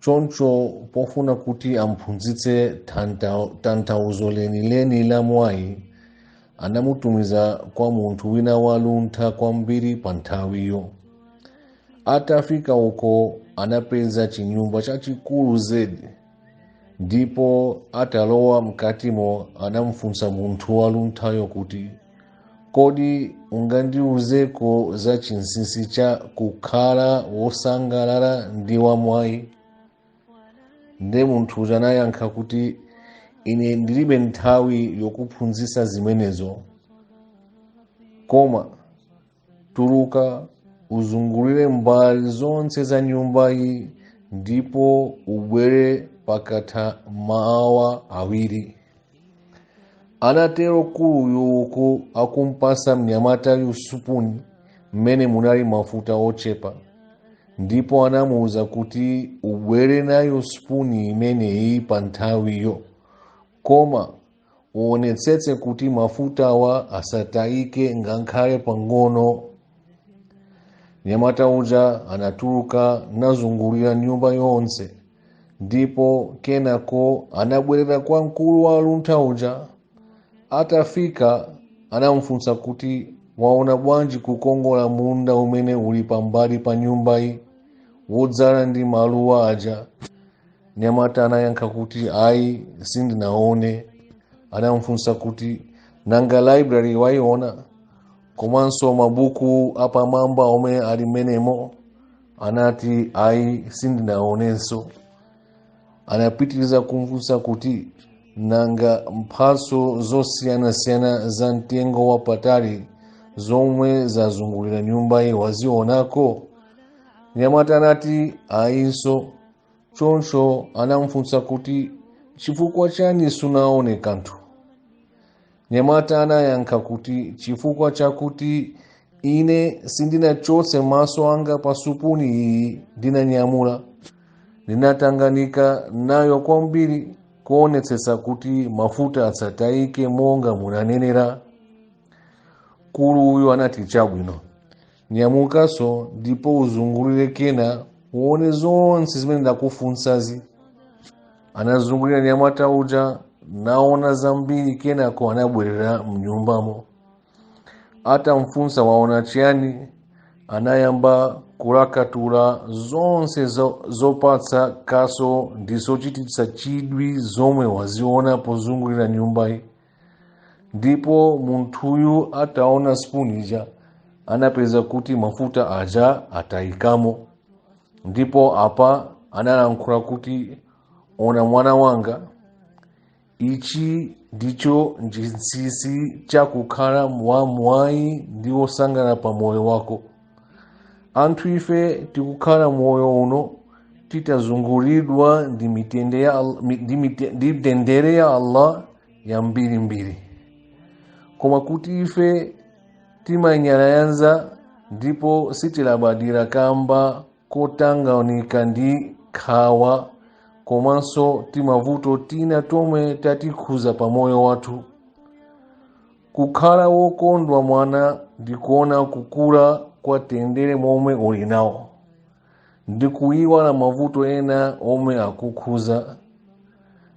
choncho pofuna kuti amphunzitse tanthauzo lenileni la mwayi anamutumiza kwa munthu wina waluntha kwambiri pa nthawiyo atafika uko anapeza chinyumba chachikulu zedi ndipo atalowa mkatimo anamfunsa munthu walunthayo kuti kodi ungandiuzeko za chinsinsi cha kukhala wosangalala ndi wamwayi nde munthu uja anayankha kuti ine ndilibe nthawi yokuphunzitsa zimenezo koma tuluka uzungulire mbali zonse za nyumbayi ndipo ubwere pakatha maawa awiri anatero mkuluyu uku akumpasa mnyamatayu supuni mmene munali mafuta ochepa ndipo anamuwuza kuti ubwere nayo supuni imeneyi pa nthawiyo koma uonetsetse kuti mafutawa asatayike ngakhale pang'ono mnyamata uja anatuluka nazungulira nyumba yonse ndipo kenako anabwerera kwa mkulu waluntha uja atafika anamufunsa kuti waona bwanji kukongola munda umene uli pambali pa nyumbayi wodzala ndi maluwa aja mnyamata anayankha kuti ayi sindinaone anamufunsa kuti nanga library waiona komanso mabuku apamwamba omwe ali mmenemo anati ayi sindinaonenso anapitiriza kumfunsa kuti nanga mphatso zosiyanasiyana za mtengo wapatali zomwe zazungulira nyumbayi wazionako mnyamata anati ayinso choncho anamfunsa kuti chifukwa chani sunaone kanthu mnyamata anayankha kuti chifukwa chakuti ine sindinachotse maso anga pa supuni iyi ndinanyamula ndinatanganika nayo kwambiri kuonetsetsa kuti mafuta asatayike monga munanenera mkulu uyu anati chabwino nyamukanso ndipo uzungulire kena uone zonse zimene ndakufunsazi anazungulira mnyamata uja naona zambiri kenako anabwerera mnyumbamo atamfunsa waona chiyani anayamba kulakatula zonse zopatsa kaso ndi zochititsa chidwi zomwe waziona pozungulira nyumbayi ndipo munthuyu ataona spoon ija anapeza kuti mafuta aja atayikamo ndipo apa analankhula kuti ona mwana wanga ichi ndicho chinsinsi cha kukhala wa mwayi ndi wosangalala pa moyo wako anthu ife tikukhala moyo uno titazunguridwa ndi mitende ya Al- mi- ndi mite- ndi mtendere ya allah yambirimbiri koma kuti ife timanyalanyaza ndipo sitilabadira kamba kotanganika ndi nkhawa komanso timavuto tina tomwe tatikhuza pa moyo wathu kukhala wokondwa mwana ndi kuona kukula kwa mtendere momwe uli nawo ndi kuyiwala mavuto ena omwe akukhuza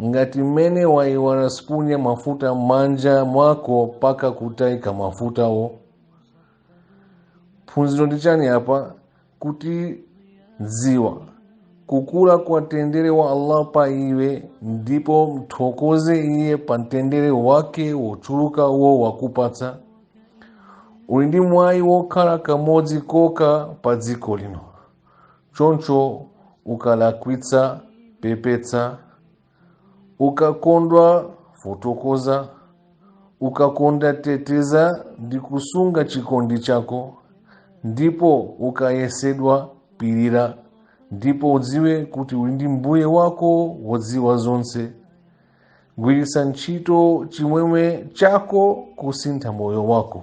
ngati mmene wayiwala sipuni ya mafuta m'manja mwako paka kutayika mafutawo phunziro ndi chani apa kuti dziwa kukula kwa mtendere wa allah pa iwe ndipo mthokoze iye pa mtendere wake wochuluka omwe wakupatsa uli ndi mwayi wokhala kamodzi kokha pa dziko lino choncho ukalakwitsa pepetsa ukakondwa fotokoza ukakonda teteza ndi kusunga chikondi chako ndipo ukayesedwa pirira ndipo udziwe kuti uli ndi mbuye wako wodziwa zonse gwiritsa ntchito chimwemwe chako kusintha moyo wako